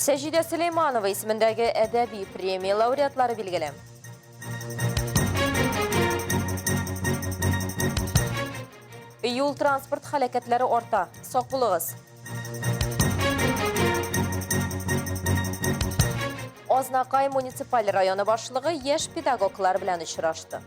Сәҗидә Сөләйманова исемендәге әдәби премия лауреатлары билгеле. Юл транспорт халәкәтләре арта. Сак булыгыз. Азнакай муниципаль районы башлыгы яшь педагоглар белән очрашты.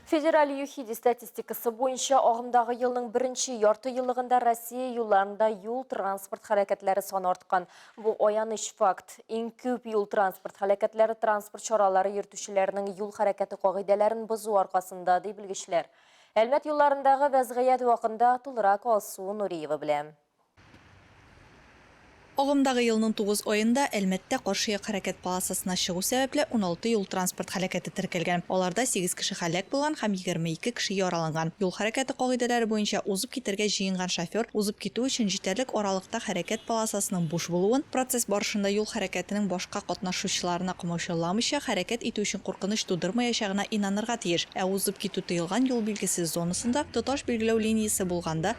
Федераль ЮХИДИ статистикасы буенча, агымдагы елның беренче ярты еллыгында Россия юлларында юл-транспорт хәрәкәтләре саны арткан. Бу аяныч факт. Иң күп юл-транспорт хәрәкәтләре транспорт чаралары йөртүчеләрнең юл хәрәкәте кагыйдәләрен бозу аркасында, ди белгечләр. Әлмәт юлларындагы вәзгыять вакында тулырак Алсу Нуриева белән. Агымдагы елның тугыз аенда Әлмәттә каршы як хәрәкәт полосасына чыгу сәбәпле, уналты юл-транспорт һәлакәте теркәлгән, аларда сигез кеше һәлак булган һәм егерме ике кеше яраланган. Юл хәрәкәте кагыйдәләре буенча узып китәргә җыенган шофер узып китү өчен җитәрлек аралыкта хәрәкәт полосасының буш булуын, процесс барышында юл хәрәкәтенең башка катнашучыларына комаучауламыйча хәрәкәт итү өчен куркыныч тудырмаячагына инанырга тиеш, ә узып китү тыелган юл билгесез зонасында тоташ билгеләү линиясе булганда,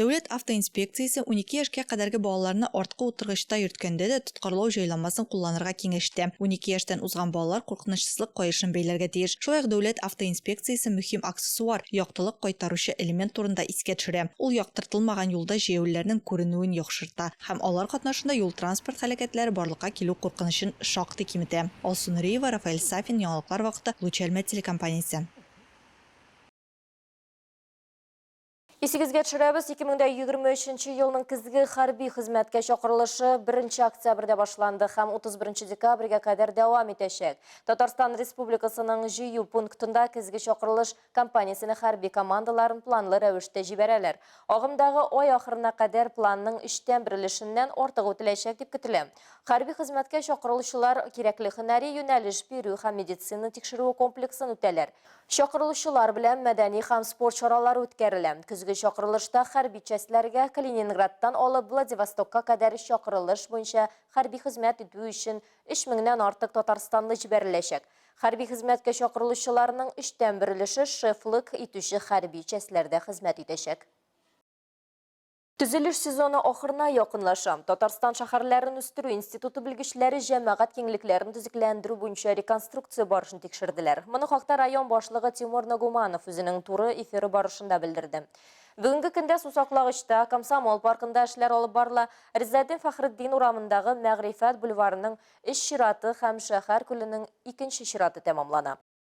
Дәүләт автоинспекциясе унике яшькә кадәрге балаларны арткы утыргычта йөрткәндә дә тоткарлау җайламасын кулланырга киңәш итә. Унике яшьтән узган балалар куркынычсызлык каешын бәйләргә тиеш. Шулай ук Дәүләт автоинспекциясе мөһим аксессуар, яктылык кайтаручы элемент турында искә төшерә. Ул яктыртылмаган юлда җәяүлеләрнең күренүен яхшырта һәм алар катнашында юл-транспорт һәлакәтләре барлыкка килү куркынычын шактый киметә. Алсу Нуриева, Рафаэль Сафин, Яңалыклар вакыты, Луч Әлмәт телекомпаниясе. Исегезгә төшерәбез, 2023 нче елның көзге хәрби хезмәткә чакырылышы 1 октябрьдә башланды һәм 31 декабрьгә кадәр дәвам итәчәк. Татарстан Республикасының җыю пунктында көзге чакырылыш кампаниясенә хәрби командаларын планлы рәвештә җибәрәләр. Агымдагы ай ахырына кадәр планның өчтән бер өлешеннән артыгы үтәләчәк дип көтелә. Хәрби хезмәткә чакырылучылар кирәкле һөнәри юнәлеш бирү һәм медицина тикшерүе комплексын үтәләр. Чакырылучылар белән мәдәни һәм спорт чаралары үткәрелә. Көзге чакырылышта хәрби частьләргә Калининградтан алып Владивостокка кадәр чакырылыш буенча хәрби хезмәт итү өчен өч меңнән артык татарстанлы җибәреләчәк. Хәрби хезмәткә чакырылучыларның өчтән бер өлеше шефлык итүче хәрби частьләрдә хезмәт итәчәк. Төзелеш сезоны ахырына якынлаша. Татарстан шәһәрләрен үстерү институты белгечләре җәмәгать киңлекләрен төзекләндерү буенча реконструкция барышын тикшерделәр. Моны хакта район башлыгы Тимур Нагуманов үзенең туры эфиры барышында белдерде. Бүгенге көндә Сусаклагычта, Комсомол паркында эшләр алып барыла, Ризаэддин Фәхретдин урамындагы Мәгърифәт бульварының өч чираты һәм Шәһәр күленең икенче чираты тәмамлана.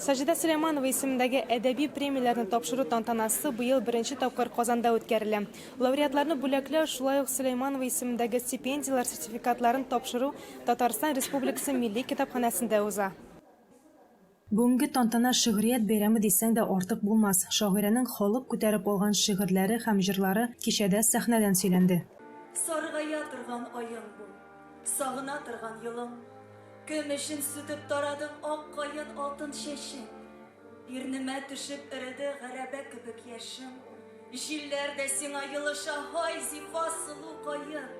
Саҗидә Сөләйманова исемендәге әдәби премияләрне тапшыру тантанасы быел беренче тапкыр Казанда үткәрелә. Лауреатларны бүләкләү, шулай ук Сөләйманова исемендәге стипендияләр сертификатларын тапшыру Татарстан Республикасы Милли китапханәсендә уза. Бүгенге тантана шигърият бәйрәме дисәң дә артык булмас. Шагыйрәнең халык күтәреп алган шигырьләре һәм җырлары кичәдә сәхнәдән сөйләнде. Саргая торган аең бул. Сагына торган елың. Көмешен сүтеп тарады ак каен алтын чәче. Ирнемә төшеп эреде гәрәбә кебек яшем. Җилләр дә сиңа елыша, һай, зифа, сылу каен.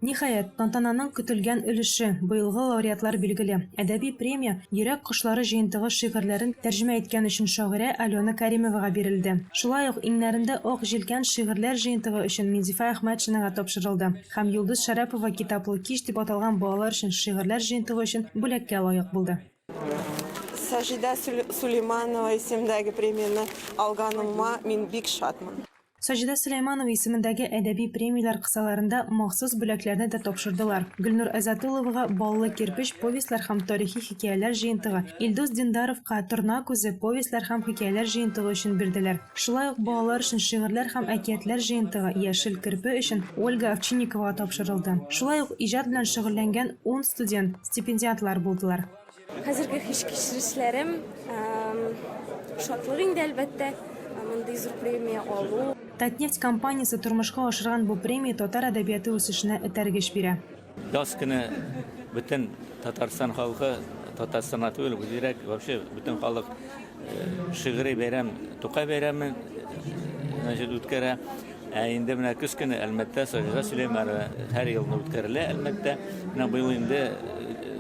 Ниһаять, тантананың көтелгән өлеше, быелгы лауреатлар билгеле. Әдәби премия Йөрәк кошлары җыентыгы шигырьләрен тәрҗемә иткән өчен шагыйрә Алена Кәримовага бирелде. Шулай ук Иңнәрендә ак җилкән шигырьләр җыентыгы өчен Минзифа Әхмәтшинага тапшырылды. һәм Йолдыз Шәрәпова Китаплы кич дип аталган балалар өчен шигырьләр җыентыгы өчен бүләккә лаек булды. Саҗидә Сулейманова исемендәге премияне алганыма мин бик шатмын. Саҗидә Сөләйманова исемендәге әдәби премияләр кысаларында махсус бүләкләрне дә тапшырдылар. Гөлнур Әзатуловага Баллы кирпеч повестьлар һәм тарихи хикәяләр җыентыгы, Илдус Диндаровка Торна күзе повестьлар һәм хикәяләр җыентыгы өчен бирделәр. Шулай ук балалар өчен шигырьләр һәм әкиятләр җыентыгы Яшел керпе өчен Ольга Овчинниковага тапшырылды. Шулай ук иҗат белән шөгыльләнгән ун студент стипендиантлар булдылар. Хәзерге хис-кичерешләрем, шатлык инде, әлбәттә, мондый зур премия алу. Татнефть компаниясе тормышка ашырган бу премия татар әдәбияты үсешенә этәргеч бирә. Яз көне бөтен Татарстан халкы, Татарстан түгел, үзерәк, вообще бөтен халык э, шигъри бәйрәм, Тукай бәйрәме значит, үткәрә. Ә инде менә көз көне Әлмәттә Саҗида Сөләймәрова һәр елны үткәрелә Әлмәттә. Менә быел инде э,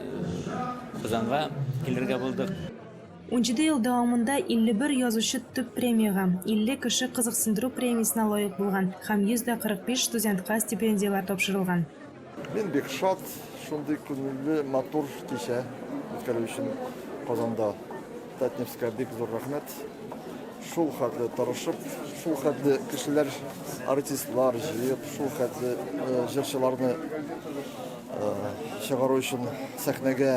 Казанга килергә булдык. Унҗиде ел дәвамында 51 язучы төп премиягә, 50 кеше кызыксындыру премиясенә лаек булган һәм 145 студентка стипендияләр тапшырылган. Мин бик шат шундый күңелле, матур кичә үткәрү өчен Казанда. Татнефтькә бик зур рәхмәт. Шул хәтле тырышып, шул хәтле кешеләр, артистлар җыеп, шул хәтле җырчыларны чыгару өчен сәхнәгә.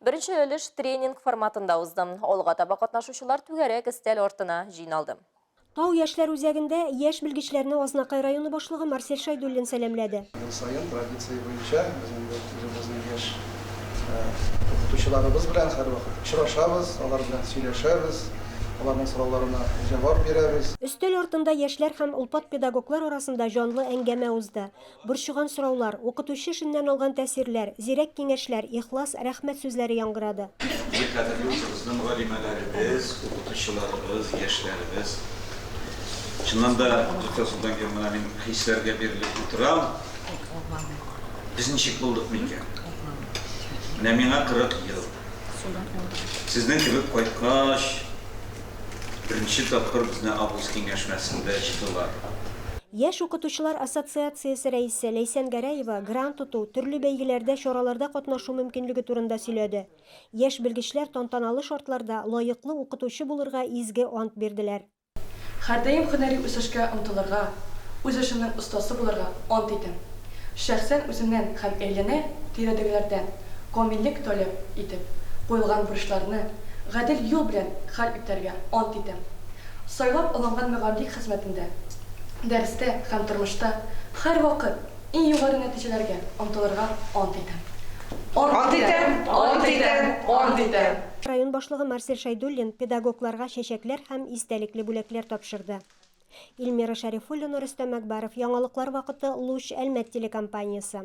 Беренче өлеш тренинг форматында узды. Алга таба катнашучылар түгәрәк өстәл артына җыйналды. Тау яшьләр үзәгендә яшь белгечләрне Азнакай районы башлыгы Марсель Шәйдуллин сәламләде. Ел саен традиция буенча без инде үзебезнең яшь укытучыларыбыз белән һәрвакыт очрашабыз, алар белән сөйләшәбез, аларның сорауларына җавап бирәбез. Өстәл артында яшьләр һәм олпат педагоглар арасында җанлы әңгәмә узды. Борчыган сораулар, укытучы эшеннән алган тәэсирләр, зирәк киңәшләр, ихлас рәхмәт сүзләре яңгырады. Бу кадерле үзебезнең галимәләребез, укытучыларыбыз, яшьләребез. Чыннан да, тотасыдан килеп, менә мин хисләргә бирелеп утырам. Без ничек булдык микән? Менә миңа 40 ел. Сезнең кебек кайткач, Беренче тапкыр безне август киңәшмәсендә җыйдылар. Яшь укытучылар ассоциациясе рәисе Ләйсән Гәрәева грант оту, төрле бәйгеләрдә, чараларда катнашу мөмкинлеге турында сөйләде. Яшь белгечләр тантаналы шартларда лаеклы укытучы булырга изге ант бирделәр. Һәрдаим һөнәри үсешкә омтылырга, үз эшемнең остасы булырга ант итәм. Шәхсән үземнән һәм әйләнә-тирәдәгеләрдән камиллек таләп итеп куелган бурычларны гадел юл белән хәл итәргә ант итәм. Сайлап алынган мөгаллик хезмәтендә, дәрестә һәм тормышта һәрвакыт иң югары нәтиҗәләргә омтылырга ант итәм. Ант итәм! Ант итәм! Ант итәм! Район башлыгы Марсель Шәйдуллин педагогларга чәчәкләр һәм истәлекле бүләкләр тапшырды. Ильмира Шәрифуллина, Рөстәм Әкбаров, яңалыклар вакыты, Луч, Әлмәт телекомпаниясе.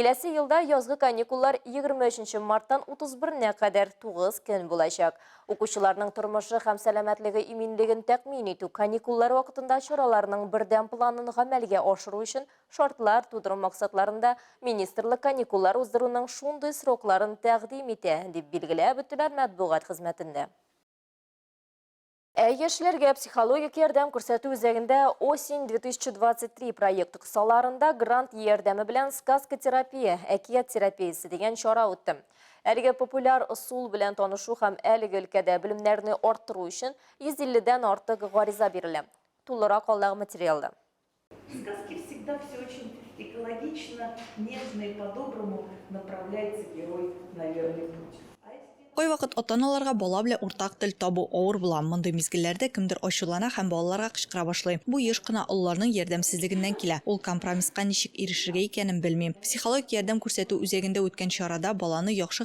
Киләсе елда язгы каникуллар 23 нче марттан 31 нә кадәр 9 көн булачак. Укучыларның тормышы һәм сәламәтлеге иминлеген тәкъмин итү, каникуллар вакытында чараларның бердәм планын гамәлгә ашыру өчен шартлар тудыру максатларында министрлык каникуллар уздыруның шундый срокларын тәкъдим итә, дип билгеләп үттеләр матбугат хезмәтендә. Ә яшьләргә психологик ярдәм күрсәтү үзәгендә Осень 2023 проекты кысаларында грант ярдәме белән сказка терапия, әкият терапиясе дигән чара үтте. Әлеге популяр ысул белән танышу һәм әлеге өлкәдә белемнәрне арттыру өчен 150 дән артык гариза бирелә. Тулырак алдагы материалда. Сказки всегда все очень экологично, нежно и по-доброму направляется герой на верный путь. Кайвакыт ата-аналарга бала белән уртак тел табу авыр була. Мондый мизгелләрдә кемдер ачулана һәм балаларга кычкыра башлый. Бу еш кына олыларның ярдәмсезлегеннән килә. Ул компромисска ничек ирешергә икәнен белми. Психологик ярдәм күрсәтү үзәгендә үткән чарада баланы яхшы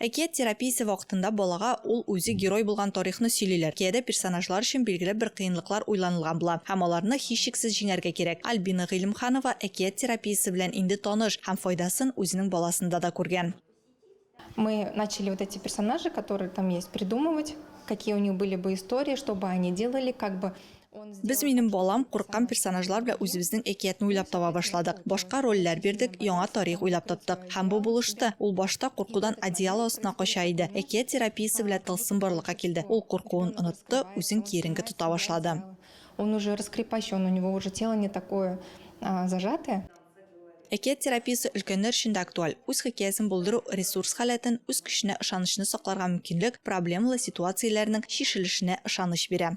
Әкият терапиясе вакытында балага ул үзе герой булган тарихны сөйлиләр. Киядә персонажлар өчен билгеле бер кыенлыклар уйланылган була һәм аларны һичшиксез җиңәргә кирәк. Альбина Гыйлемханова әкият терапиясе белән инде таныш һәм файдасын үзенең баласында да күргән. Мы начали вот эти персонажи, которые там есть, придумывать, какие у них были бы истории, что бы они делали, как бы Без минем балам курыккан персонажлар белән үзебезнең әкиятне уйлап таба башладык. Башка рольләр бирдек, яңа тарих уйлап таптык. Һәм бу булышты. Ул башта куркудан одеяло астына кача иде. Әкият терапиясе белән тылсым барлыкка килде. Ул куркуын онытты, үзен киеренке тота башлады. Он уже раскрепощен, у него уже тело не такое зажатое. Әкият терапиясе өлкәннәр өчен дә актуаль. Үз хикәясен булдыру ресурс халәтен, үз көченә ышанычны сакларга мөмкинлек, проблемалы ситуацияләрнең чишелешенә ышаныч бирә.